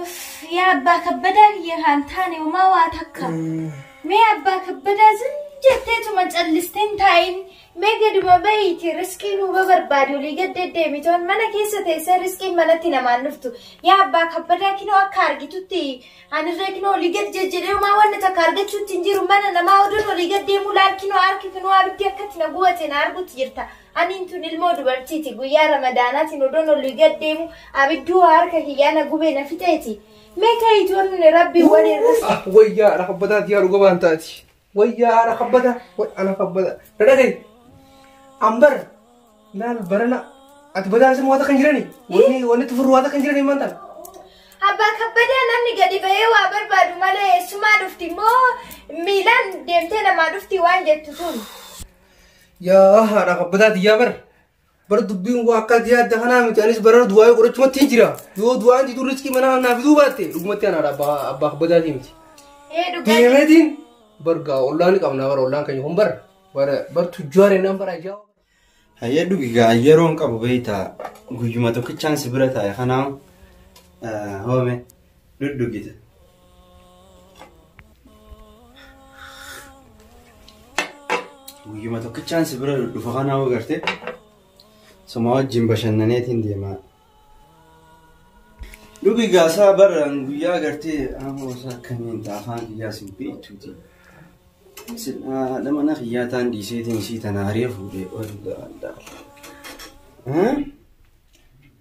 Uff, yaa abbaa kabbadaa kiyya kaan taane homaa waa takka. Mee abbaa kabbadaa sun jetteetuma callistee hin taa'in. Mee gaduma bahiiti riskii nuu babarbaadi olii gad deddeemitoon mana keessa teessee riskiin manatti namaan dhuftu. Yaa abbaa kabbadaa kinoo akka argitutti anirree kinoo olii gad jejjedhee homaa wanna takka argachuutti hin jiru mana namaa oduun olii gad deemuu laal kinoo harki kinoo abiddi akkatti na gubate na argutti jirta. Aniin tun ilmoo dubartiiti guyyaa ramadaanaatiin odoon olii gad deemu abidduu harka kiyyaa na gubee na fixeeti. Mee kayituun rabbiin waliin Ah, wayyaa ana kabbataa tiyaa dhuga baan taati. Wayyaa ana kabbata, way ana kabbata. Dhadhagay. Ambar laal barana ati badaa simu waata kan jirani. Wanni wanni tufurru waata kan jirani maanta. Abbaa kabbadaa namni gadi bahee waa barbaadu malee eessumaa dhufti moo miilaan deemtee namaa dhufti waan jettu tun. Yaa haadha kabbataa tiyyaa bar. Bar dubbiin waa akkaati yaadda kanaa miti anis bara du'aayee godhachumatti hin jira. Yoo du'aan didu riskii manaa naaf fiduu baatte dhugumatti anaadha abbaa abbaa kabbataatii miti. Ee dhugaa. Deemeetiin bar gaa ollaan qabnaa bar ollaan keenya kun bar bar bar tujjaaree naan bara ajaa. Hayyee dhugi gaa yeroon qabu beektaa guyyuma tokkichaan si bira taa'e kanaa hoome. dhudhugita. Guyyuma tokkichaan si bira dhufa kana hoo garte suma wajjin bashannaneetiin deemaa. Dhugi gaasaa barraan guyyaa gartee ammoo isaa akkamiin ta'a afaan kiyyaa sin beektuuti. Haadha mana kiyyaa taan dhiiseetiin isii tana haree fuudhee ooludha.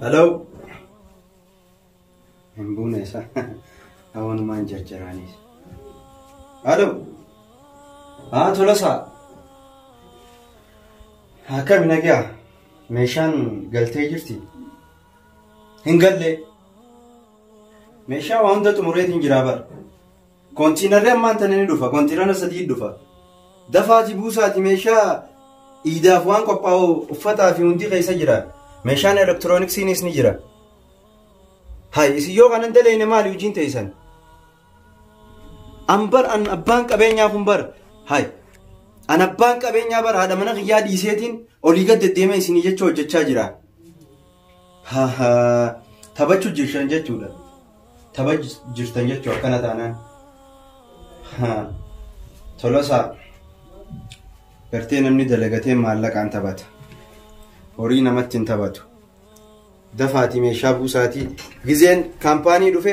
Hello. Hin buune isa. Hawanumaan jarjaraanis. Hello. Haa tolasaa. Akkami nagaa? Meeshaan galtee jirti? Hin galle. Meeshaa waa hunda xumureetiin jiraa bara. Kontiinarri ammaan tana ni dhufa. Kontiinara sadii dhufa. Dafaati buusaati meeshaa iidaaf waan qophaa'u uffataa fi hundi keessa jira. Meeshaan elektirooniksiinis ni jira. Hayi isin yoo kanan dalayne maali hojiin teessan? An bar an abbaan qabeenyaa kun bar hayi. An abbaan qabeenyaa bar haadha mana kiyyaa dhiiseetiin olii gad deddeemee isinii jecha hojjechaa jira. Hahaa taphachuu jirtan jechuudha. Tapha jirtan jechuu akkana taanaan. Haa. Tolosaa. Gartee namni dalagatee maallaqaan taphata. Horii namatti hin taphatu. Dafaatii meeshaa buusaatii. Gizeen kaampaanii dhufe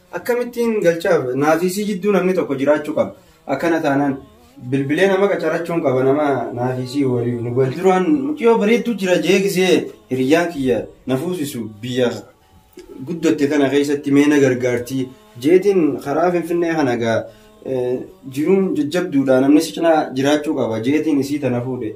Akkamittiin galchaaf naafisii jidduu namni tokko jiraachuu qaba. Akkana taanaan bilbilee nama qacarachuun qaba nama naafisii waliin nu galchu. Duraan mucayyoo bareedduu jira jee gisee hiriyyaan kiyya na fuusisu biyya guddatte kana keessatti mee na gargaartii jeetiin karaa finfinnee kana gaa jiruun jajjabduudha namni si cinaa jiraachuu qaba jeetiin isii tana fuudhe.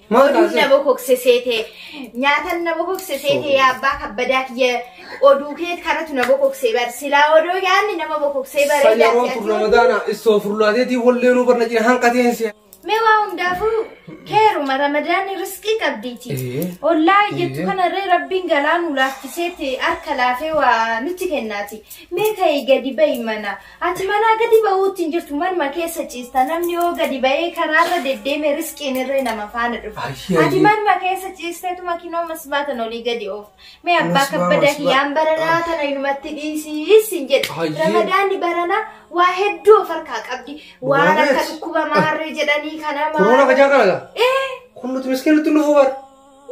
Oduun na bokokse seete nyaatan na bokokse seete yaa abbaa kabbadaa kiyya oduu kee kanatu na bokokse bar silaa odoo yaanni nama bokoksee bareedaa Sayyaroo si'atii kun oduu. ramadaana istoo furlaateetii wallee nuu barna jira hanqateen si'a. Mee waa hundaafuu keeruma ramadaanni riskii qabdiiti. Ee. Ollaa jettu Ee. kanarree rabbiin galaa nu laaffiseeti harka laafee waa nutti kennaati. Mee ka'ii gadi ba'i mana Ati manaa gadi ba'uutti hin jirtu manuma keessa ciista namni yoo gadi ba'ee karaarra deddeeme riskiin irree nama faana dhufa. Ayyee, Ati ayyee. manuma keessa ciisteetuma kinoo masbaatan olii gadi oof. Mee abbaa Masbaa, kabbada masbaa. kiyyaan baranaa tana inumatti dhiisiis hin jedhu. Ayyee. Ramadaanni baranaa waa hedduu of harkaa qabdi. Waan akka Dubarrees. dhukkuba maarree jedhanii kana Koroona kajaa kana laa. Ee Kun nuti miskiinitti nu fubar.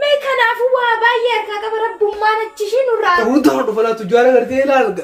mee kanaafuu waa baay'ee harkaa qaba rabbummaan achi ishii nurraa Hundaa dhufa laatu jaala gartee ilaalga.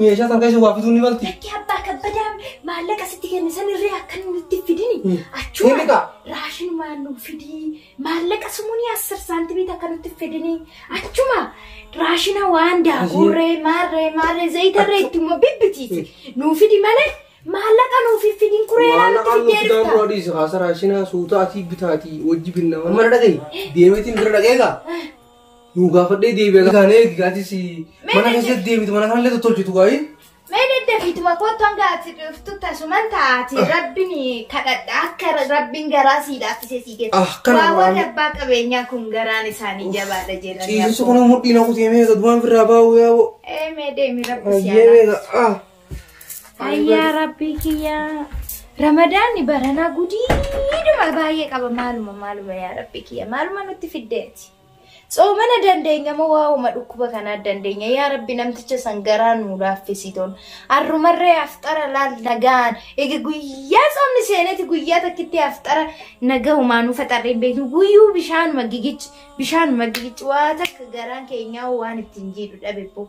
Meeshaa san keessa waa bituu ni malti. Lakki abbaa kabbadaa maallaqa sitti kenne san irree akka inni itti fidini. Hmm. Ni Achuma bitaa. raashin maalluu fidii maallaqa sumunii asir saantimii akka nutti fidini. Achuma raashina waan daakuurree maarree maarree zayitarree itti immoo bibbitiiti. Nuu fidi malee maallaqa nuuf hin fidin kuree laa nutti Maallaqaan fidee nuti daamu dhufta. adiis haasa raashinaa suutaa atii bitaatii wajji binna. Amma na dhagahi. Deemeetiin bira dhagee gaa. Nuu gaafadhee deebi'a gaane eegi gaati si mana keessatti deebitu mana kanallee tottolchitu gaa'ii. Mee daddafiituma kottu hanga ati dhuftu tasuman taati rabbiin kadhadha akka rabbiin garaa sii laaffisee sii geessa. Ah, kana Waa waan- warri abbaa qabeenyaa kun garaan isaanii jabaadha jedhanii. Ciisisu kun mudhiin hakuutii mee gadumaan firraa baa'uu yaa'u. Ee mee deemi rabbi si Ayyee haa beeka. Ah. Ayyaa rabbii kiyyaa. Ramadaanni baranaa gudiiduma baay'ee qaba maaluma maaluma yaa rabbii kiyya maaluma nutti fiddeeti. Tsoomana dandeenya moo waa'uma dhukkuba kanaa dandeenya yaa rabbi namticha san garaa nuu laaffisitoon. Arrumarree afxara laal nagaan ega guyyaa tsoomni seeneeti guyyaa takkitti afxara nagahumaa nu faxarree hin beeknu guyyuu bishaanuma gigichi bishaanuma gigichi waa takka garaan keenyaa waan ittiin jiidhu dhabe boo.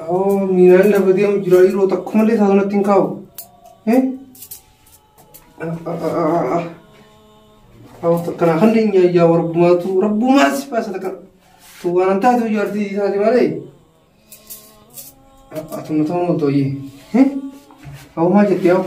Awoo miiraan na badee amma jiraa yeroo takka malee isaa sanatti hin kaa'u. Eh? Awoo takka naa kan deenya yaa warbumaatu rabbumaa si baasa takka. Tu waan an taatu ijaartii isaati malee. Atumma ta'uu hin tooyyee. Eh? Awoo maal jettee awoo?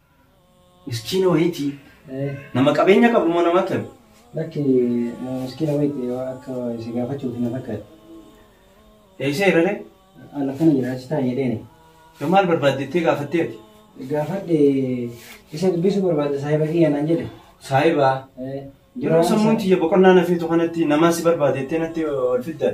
Miskiina wayiiti. Nama qabeenya qabu moo nama akkami? Lakki nama miskiina wayiiti waa akka si gaafachuuti na fakkaate. Eeyseera ree? An akkana jira achi taa'i jedheeni. Yoo maal barbaadde jettee gaafattee ati? Gaafadhe isa dubbisuu barbaada saahiba kiyya naan jedhe. Saahiba? Ee. Yeroo sammuun tiyya boqonnaa na feetu kanatti namaa si barbaada jettee natti ol fidda?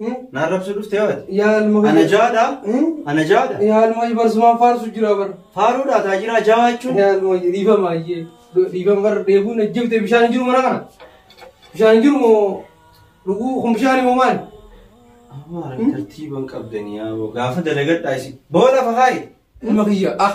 Eh? Na arrabsuu dhufte yoo ati. Yaa ilma Ana hojii. jaadha. Eh? Ana jaadha. Yaa ilma hojii barsumaan faarsu jira bara. Faaruudha taajiraa jaa jechuun. Yaa ilma hojii dhiifama ayyee. Dhiifama bara dheebuun ajjabte bishaan hin jiru mana kana. Bishaan hin jiru moo dhuguu kun bishaan moo maali? Amaara tartiiban qabdanii yaa boo. Gaafa dalagadhaa isin. Boola fahaayi. Ilma kiyya ah.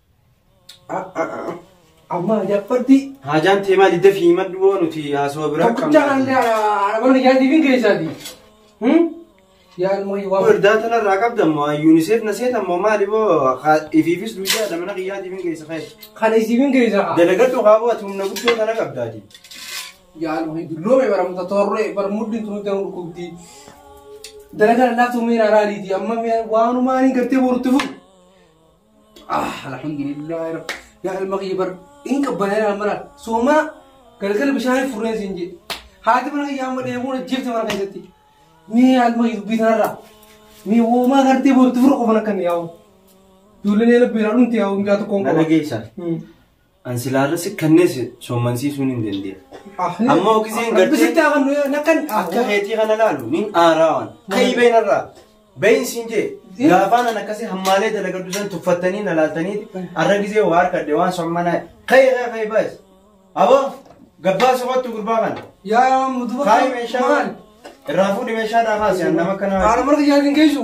Amma jabbarti. Haajaan tee maal idda fi himadhu boo nuti haasawaa biraa Tokkichaa kan arabaan ijaartii fi keessaati. Yaa ilmoo yoo waan. Waldaa tanarraa qabda ammoo ayyuuni seet na seet ammoo maali boo ifiifis duudaa dha mana kiyyaatiif hin keessa fayyadu. Kan isiifin keessaa. Dalagadhu qaaboo ati humna guddoo tana qabdaati. Yaa ilmoo hin dulloome baramta torree barmuddi tunu ta'u dhukkubdi. Dalagaa laaftuu miira araariiti amma waanumaan hin gartee borutti fufu. Ah, alhamdulillah rab. Yaa ilma kiyya bar in qabbanee naan mara sooma galgala bishaan furreen siin jedhe. Haati mana kiyyaa amma deemuun ajjeefte mana keessatti. Mee yaa ilma kiyya dubbii tanarraa. Mee woomaa gartee boorti fura qofan akkan yaa'u. Ijoolleen eela beeraa dhumte yaa'u mucaa tokkoon Na qaba. dhageessa. Hmm. An silaarra si kannees soommansiisuun hin dandeenye. Amma ogiseen gartee- Rabbisitti haa kannu yoo nakkan. Akka keetii kana laalu nin aaraa waan. Ka'ii been irraa. Been siin jee. Gaafaan an akkasii hammaalee dalagaddu san tuffattanii na laaltanii arra gisee waa harkadde waan sommanaa. Ka'ii ka'ii ka'ii baas. Aboo gabbaa soqattu gurbaa kana. Yaa yaa muduba. Kaayi meeshaa. Irraa fuudhi meeshaa dhaa kaasi an nama kana. Haala marga jaalin geessu.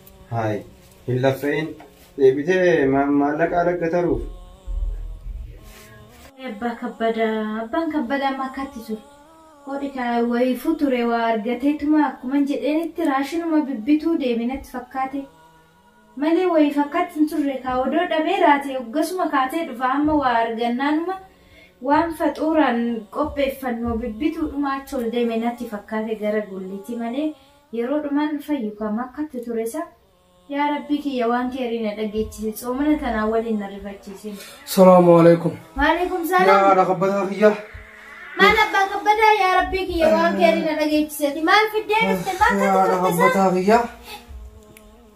Haay, hin laffa'in. Deebitee ma- maallaqa alagga taruuf. Abbaa kabbadaa abbaan kabbadaa amma akkatti ture. Godhi kaa wayiifuu ture waa argateetuma akkuman jedheenitti raashinuma bibbituu deebinatti fakkaate. Malee wayii fakkaatti hin turre kaa odoo dhabee raate hoggasuma kaatee dhufa amma waa argannaanuma waan faxuuraan qopheeffannu bibbituudhuma achi ol deeme natti fakkaate gara gulliitii malee Yeroo dhuman fayyu ka makkattu ture sa. Yaa rabbii kiyya waan keerii na dhageechisi tsoomana tanaa waliin na rifachiisin. Salaamu alaikum. Waalaikum Yaa salaam. haadha kabbataa kiyya. Maal abbaa kabbadaa yaa rabbii kiyya waan keerii na dhageechiseti maal fiddee dhufte maal Yaa haadha kabbataa kiyya.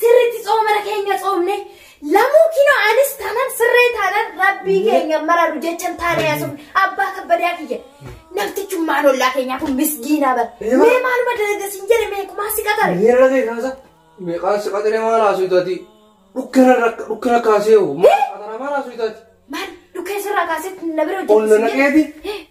Sirriitti tsoomana keenya tsoomne lamuu kinoo anis taanaan sirree taanaan rabbii keenya mararu jechan taanee haasofne abbaa kabbadaa kiyya. Namtichummaan ollaa keenyaa kun misgiinaa bara. Eeyyama. Mee maaluma dalaga siin jedhe mee kumaa si qatare. Miira ta'e kaasa. Meeqaa si qaxiree maal haasuu taati? Dhukkana rakka dhukkana kaasee hoo? Maal qaxaraa maal haasuu taati? Maal dhukkee sirraa kaasee na bira Ol na hojjetu siin jedhe. naqeeti?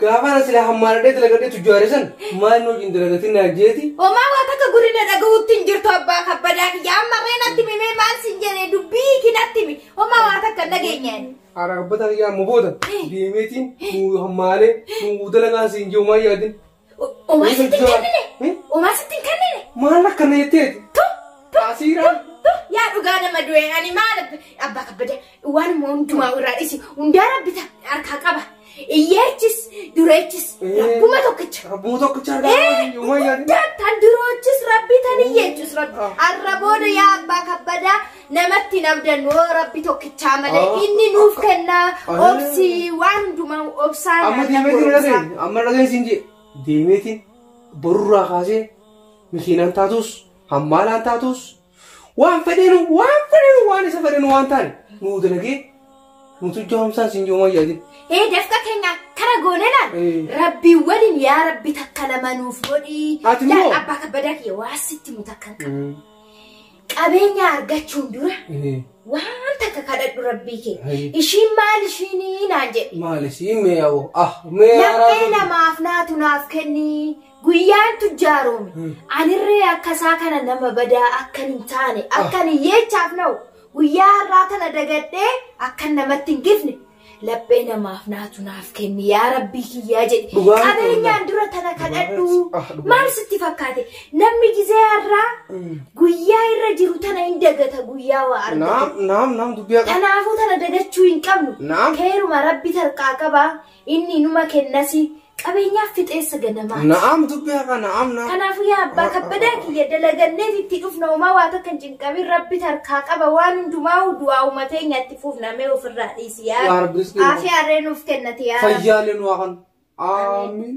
Gaafana sila hammaaradhee dalagadhee tujjaare san maal nu wajjin dalagatin naa jeeti. Homaa waan akka gurina dhagahuutti hin jirtu abbaa kabbadaa kiyya amma mee natti himi mee maal sin jedhe dubbii ki natti himi homaa waan akka hin dhageenye. Haadha kabbadaa kiyya amma booda deemeetiin nu hammaalee nu dalagaan siin jiru maal yaadin. Homaa sitti hin kennine homaa sitti hin kennine. Maal akkana jetteeti? Asiiraan. Yaa dhugaa nama du'e ani maal abbaa kabbadaa. Waan immoo hundumaa irraa dhisi. Hundaa rabbi ta- harkaa qaba. Iyyeechis dureechis rabbuma tokkicha. Rabbuma tokkicha argaa Eh, qabaatiin uumaa yaadni. hundaa tan duroochis rabbi tan iyyeechis rabbi. Ah. Har'a booda yaa abbaa kabbadaa namatti hin abdannu oo rabbi tokkichaa malee Ah. inni nuuf kenna Ah. obsi waan hundumaa obsaa Amma nyaata deemeetiin hin goromsaa. dhageenye. Amma dhageenye siin jee. Deemeetiin borurraa kaasee mikiinaan taatus hammaalaan taatus Waan fedhenu waan fedhenu waan isa fedhenu waan taane nuu dalagee nutu jaamsaan sin joomaa yaadin. Ee dafqa keenya kara goone laal. Ee. Rabbii waliin yaa rabbi takka lama nuuf godhii. Ati Laal immoo? abbaa kabbadaa kiyya waa sitti mu takka hin qabu. Qabeenya argachuun dura waan takka kadhadhu rabbii kee. Ee. Ishiin maal ishiinii naan jedhe. Maali siin mee yaa'u ah mee Laphee namaaf naatu naaf kennii. Guyyaan tujjaaroome anirree akka isaa kana nama badaa akkan hin taane akkan hiyyeechaaf na'u guyyaa har'aa tana dagadhee akkan namatti hin gifne laphee namaaf naatu naaf kenni yaa rabbii kiyyaa jedhe Dhugaa miti qabeenyaan dura tana kadhadhu Ah, dhugaa. maal sitti fakkaate namni gizee har'aa guyyaa irra jiru tana hin dagata guyyaa waa argate Naam naam naam dubbii haqa. Kanaafuu tana dagachuu hin qabnu. Naam. Keeruma rabbi tarqaa qabaa. Inni inuma kennasi. Qabeenyaaf fixeessa ganamaati. Na'am dubbii haqaa na'am na'am. Kanaafuu yaa abbaa kabbadaa kiyya dalaganneef itti dhufna homaa waa takka hin cinqamin rabbi tarkaa qaba waan hundumaa'u du'aa uumatee nyaatti fuufna mee ofirraa dhiisi yaa Yaa Rabbi rizqii aafii harree nuuf kennati yaa Rabbi. Fayyaalee nu haqan. Aamiin.